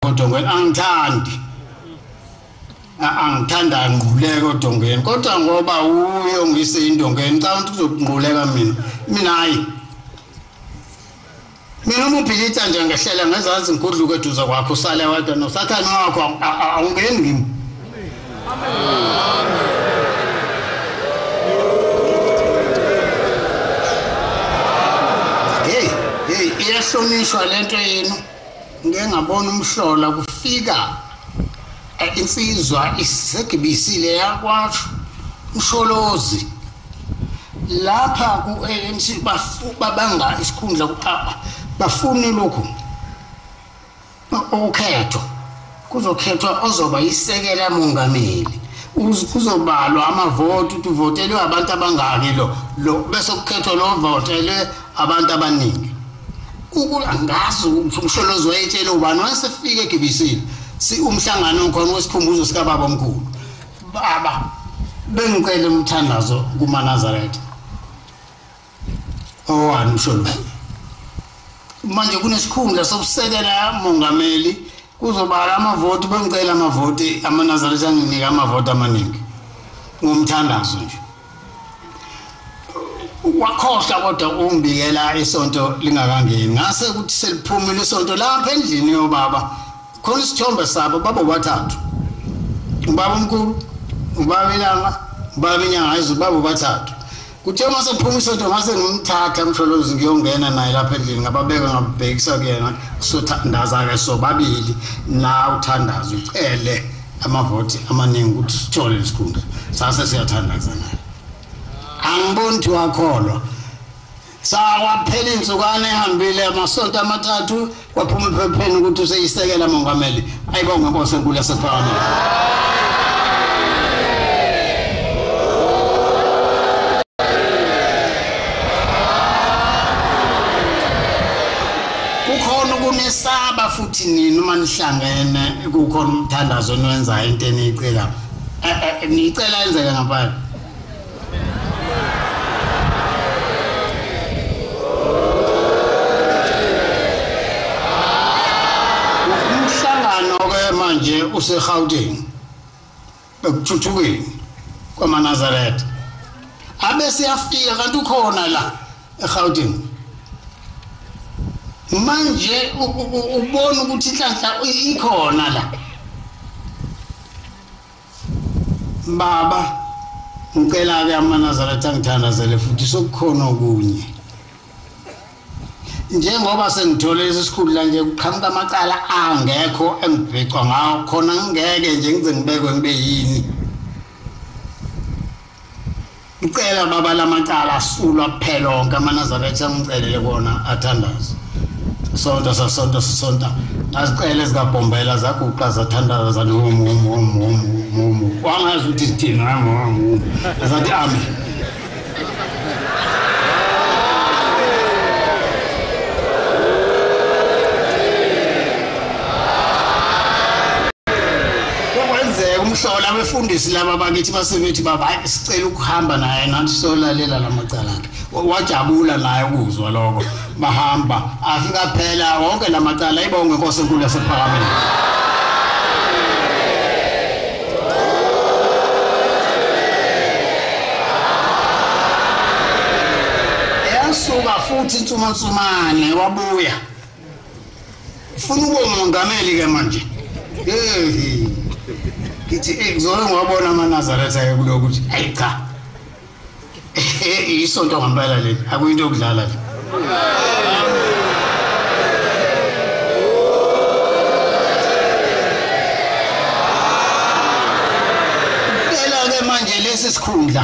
odongweni angithandi angithanda ngquleke odongweni kodwa ngoba uye ongise indongweni xa umuntu uzokungquleka mina mina hayi mina uma uphilitha nje ngehlela ngezansi ngigudluke eduze kwakho usale wedwa nosathane wakho awungeni kimi heyi heyi iyahlonishwa le nto yenu Ngike ngabona umhlola kufika eh, insizwa isegibisile yakwasho usholozi lapha ku-anc babanga isikhundla bafune lokhu ukhetho Kuzokhethwa ozoba isekela mongameli. Kuzobalwa amavoti ukuthi uvotelwe abantu abangaki lo lo bese kukhethwa lo votelwe abantu abaningi. Angazi umsholozi wayetshela ubani wasefika eGibisini si umhlangano khona wesikhumbuzo sikababa omkhulu. Baba bengicela umthandazo kumaNazaretha. owani usho lo manje kunesikhundla sokusekela mongameli kuzobala amavoti bengicela amavoti amanazaretha anginika amavoti amaningi ngomthandazo nje wakhohlwa kodwa ungibikela isonto lingakangeni ngase ukuthi seliphumile isonto lapha endlini yobaba khona isithombe sabo baba bathathu ubaba omkhulu ubaba ilanga ubaba inyanga izulu baba bathathu Kuthe uma sephuma isonto ngase ngimthatha msholozi ngiyongena naye lapha endlini ngababeka ngabhekisa kuyena sothandaza-ke sobabili la uthandaza ucele amavoti amaningi ukuthi sithole lesikhundla sase siyathandaza naye angiboni ukuthi wakholwa sawaphela iy'nsukwana ehambile amasonto amathathu Kwaphuma ephepheni ukuthi useyisekela mongameli. Ayibonge Nkosi enkulu yasePhalamende. unesaba futhi nini uma nihlangene kukhona umthandazo eniwenzayo into eniyicela eh, eh, niyicela yenzeke ngaphandle manje useGauteng ekuthuthukeni kwamaNazaretha abe siyafika kanti ukhona la eGauteng manje ubona ukuthi inhlanhla ikhona la Baba, ngicela-ke amanazaretha angithandazele futhi sokukhona okunye. Njengoba sengithole lesi sikhulu la nje kuqhamuka amacala angekho engibhecwa ngawo khona ngingeke nje ngize ngibekwe ngibe yini. Ngicela baba lamacala asulwa kuphela onke amanazaretha angicelele kona athandaze. Sonto sasonto sisonta ngazicela ezikaBhombela zaguqa zathandaza zathi hum hum hum hum hum hum. Wangazi ukuthi sithini hum hum hum. Zathi amen. Kukwenzeka umhlola abefundisi laba bakithi basebethi baba hayi sicela ukuhamba naye nathi solalela lamacala akhe. Wajabula naye ukuzwa lokho. Bahamba afika phela wonke lamacala ibonge inkosi enkulu yasephakameni. Yasuka futhi insumansumane wabuya. funa ube umongameli ke manje yeyi ngithi eh, ngizole ngiwabona amanazaretha ke kulo ukuthi ayi cha eh, isonto ngempela leli akuyinto yokudlala le phela-ke manje lesi sikhundla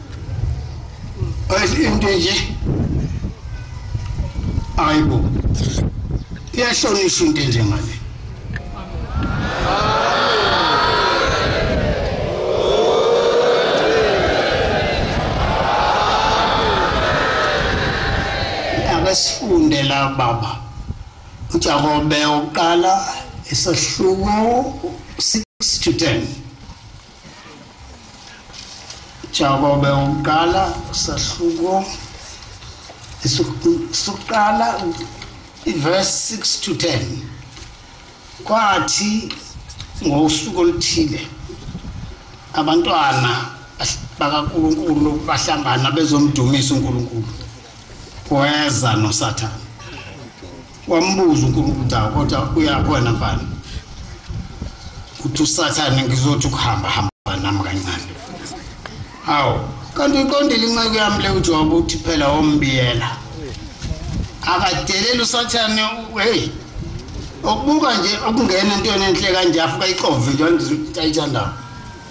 Ayi into nje. Ayibo. Iyahlonishwa into nje ngale. Abasifunde la baba. Ujakobe uqala isahluko 6 to 10. Jakobe umqala sahluko sokuqala iverse 6 to 10 kwathi ngosuku oluthile abantwana bakaNkulunkulu bahlangana bezomdumisa uNkulunkulu kweza noSathane Wambuza uNkulunkulu ukuthi kodwa uyakhona mfana. Uthi usathane ngizothi ukuhamba hamba nami kancane. Hawu, kanti uqondile inceku yami le uJobe uthi phela wombiyela. Akadelela usathane hey okubuka nje okungena into enhle kanje afika ixove nje ayithandayo.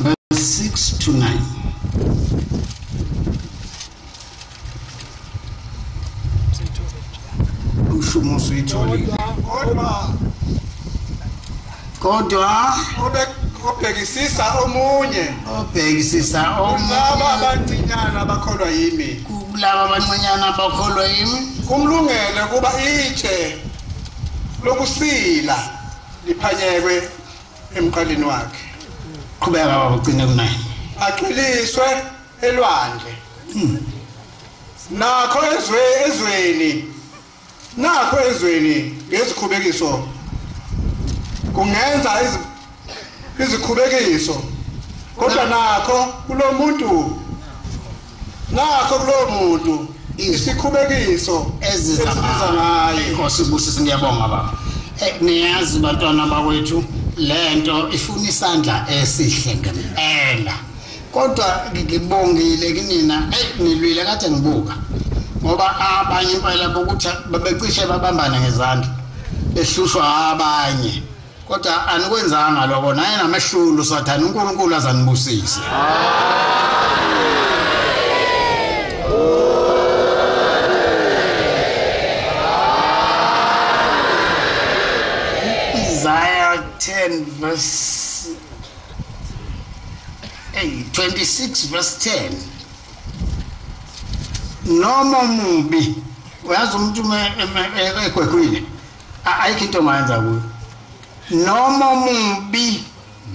verse 6 to 9 umshumo usuyitholile kodwa kodwa obhekisisa omunye obhekisisa omunye abancinyana bakholwa yimi kulaba abancinyana bakholwa yimi kumlungele kuba itshe lokusila liphanyekwe emqaleni wakhe qhubeka baba ugcine kunaye aqiliswe elwandle hmm. nakho ezwe ezweni nakho ezweni ngezikhubekiso kungenza izikhubekiso kodwa nakho kulomuntu Ngakho kulowo muntu isikhubekiso eziza ngayo. Inkosi ibusise ngiyabonga baba. Eh, niyazi bantwana bakwethu lento ifuna isandla esihle ngempela. Kodwa ngibongile kinina eh nilwile kade ngibuka. Ngoba abanye impela bokuthi babecishe babambana ngezandla. Ehlushwa abanye. Kodwa anikwenzanga lokho naye namehlulu sathana uNkulunkulu azanibusise. Isaiah 10 verse hey, 26 verse 10 noma mubi uyazi umuntu egwegwile Ayikho into ongayenza kuyo. Noma omubi,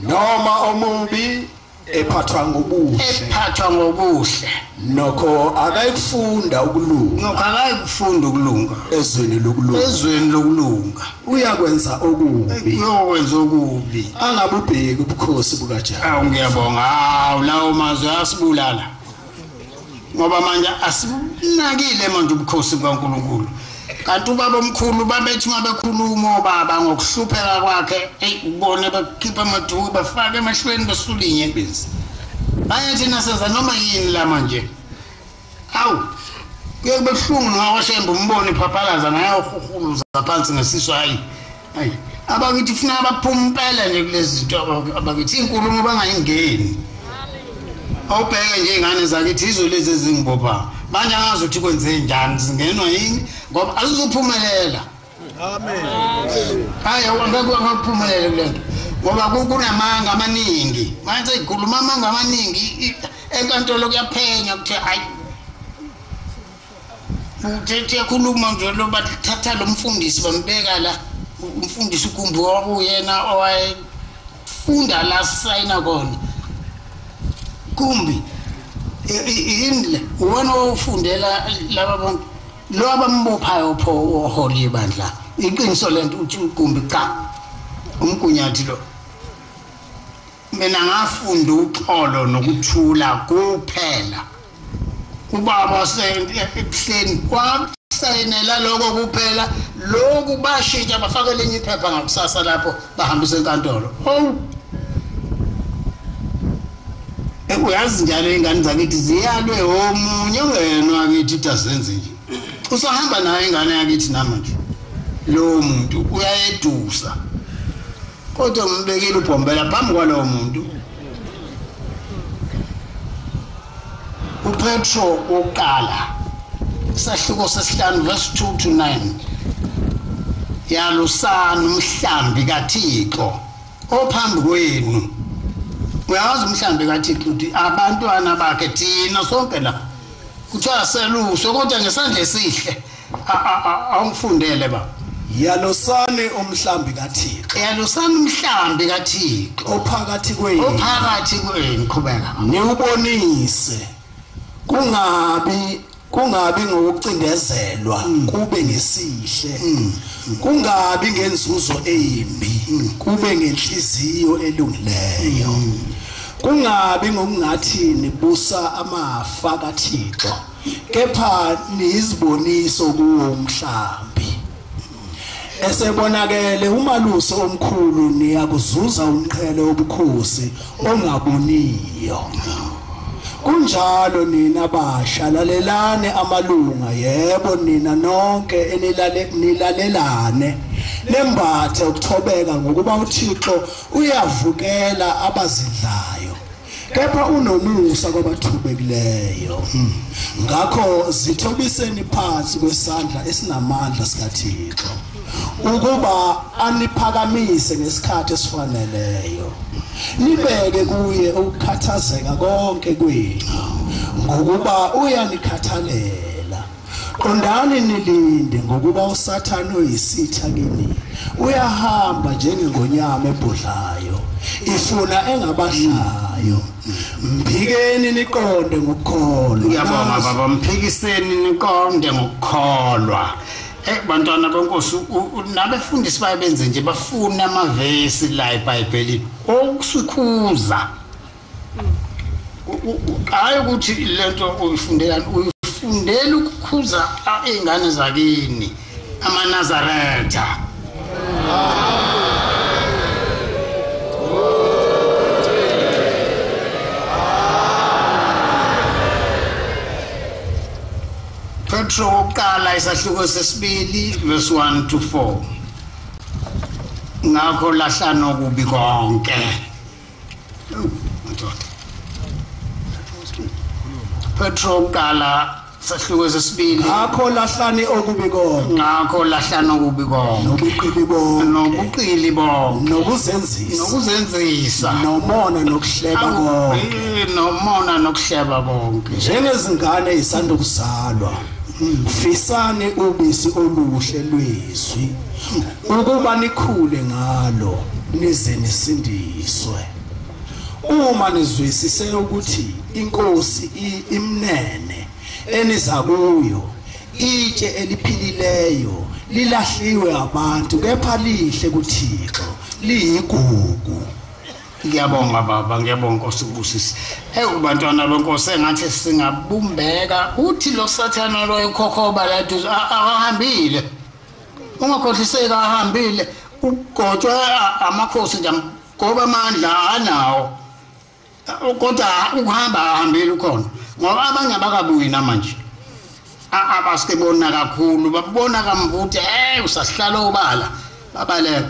noma omubi ephathwa ngobuhle. Ephathwa ngobuhle. Nokho akayikufunda ukulunga. Nokho akayikufunda ukulunga. Ezweni lokulunga. Ezweni lokulunga. Uyakwenza okubi. Uyokwenza okubi. Angabubheki ubukhosi bukaJehova. Awu ngiyabonga. Awu lawo mazwi asibulala. ngoba manje asinakile manje ubukhosi bukaNkulunkulu kanti ubaba omkhulu babethi uma bekhuluma obaba ngokuhlupheka kwakhe eyi ubone bakhipha amaduku bafake emashweni besula inyembezi bayethi nasenza noma yini la manje awu kuye kube buhlungu nowashembe umbone iphaphalaza naye uhuhuluza phansi ngesisu hhayi abakithi funa abaphume impela nje kulezi zinto abakithi inkulumo bangayingeni awubheke nje ingane zakithi izo lezi ezingibopha manje angazi ukuthi kwenze njani zingenwa yini ngoba azizuphumelela amen hayi awangeke wangaphumelela kule nto ngoba kunamanga amaningi manje ikhuluma amanga amaningi enkantolo kuyaphenywa kuthiwa hayi uthethe yakhuluma nje lo bathatha lo mfundisi bambeka la umfundisi ugumbi wakuyena owayefunda la sayina kona kumbi yini le uwena owufundela laba bantu lo abambophayo pho oholi yebandla iqiniso lento uthi ugumbi cha umgunyathi lo Mina ngafunda uxolo nokuthula kuphela. Ubaba ebuhleni kwasayinela lokho kuphela lokhu bashintsha bafaka elinye iphepha ngakusasa lapho bahambisa enkantolo. Oh. uyazi njalo ingane zakithi ziyalwe omunye ongenwa kithi ukuthi azenze nje usahamba nayo ingane yakithi namanje lowo muntu uyayedusa kodwa ngimbekile ubhombela phambi kwalowo muntu upetro wokuqala isahluko sesihlanu verse 2 to 9 yalusani umhlambi kathixo ophambi kwenu uyawazi umhlambi kathixo ukuthi abantwana bakhe thina sonke la kuthiwa seluswe kodwa ngesandla esihle awungifundele baba yalosani umhlambi kaThixo yalosani umhlambi kaThixo ophakathi kwenu ophakathi kwenu qhubeka niwubonise kungabi kungabi ngokucindezelwa mm. kube ngesihle mm. kungabi ngenzuzo embi mm. kube ngenhliziyo elungileyo kungabi ngokungathi nibusa amafa kaThixo kepha niyiziboniso kuwo umhlambi esebonakele umalusi omkhulu niyakuzuza umqhele obukhosi ongaboniyo kunjalo nina basha lalelane amalunga yebo nina nonke enilale nilalelane nembathe ukuthobeka ngokuba uThixo uyavukela abazidlayo kepha unomusa kwabathubekileyo hmm. ngakho zithobiseni phansi kwesandla esinamandla sikaThixo ukuba aniphakamise ngesikhathi esifaneleyo nibeke kuye ukukhathazeka konke kwenu ngokuba uyanikhathalela Qondani nilinde ngokuba uSathane oyisitha kini uyahamba njengengonyama ebhodlayo ifuna engabahlayo mphikeni niqonde ngokukholwa ngiyabonga baba mphikiseni niqonde ngokukholwa Eh bantwana benkosi nabefundisi baye benze nje bafuna amavesi la eBhayibhelini okusikhuza hayi ukuthi lento uyifundelani uyifundela ukukhuza iy'ngane zakini amanazaretha petro wokuqala isahluko sesibili verse 1 to 4 ngakho lahlanokubi konke Petro kuqala sahluko sesibili ngakho lahlani okubi konke ngakho lahlani okubi konke nobuqili bonke nobuqili bonke nokuzenzisa nokuzenzisa nomona nokuhleba konke nomona nokuhleba konke njengezingane isanda kuzalwa fisani ubisi oluhle lwezwi ukuba nikhule ngalo nize nisindiswe uma nizwisise ukuthi inkosi imnene eniza kuyo itshe eliphilileyo lilahliwe abantu kepha lihle kuThixo liyigugu ngiyabonga baba ngiyabonga nkosi ukubusisa ewu bantwana benkosi engathi singabumbeka uthi lo sathana loyo khokhoba laduze akahambile ungakhohliseki ahambile ugotshwe amakhosi nje ngoba amandla anawo kodwa ukuhamba ahambile ukhona ngoba abanye abakabuyi namanje abasibona kakhulu babona kamvuthi hey usahlala obala babaleka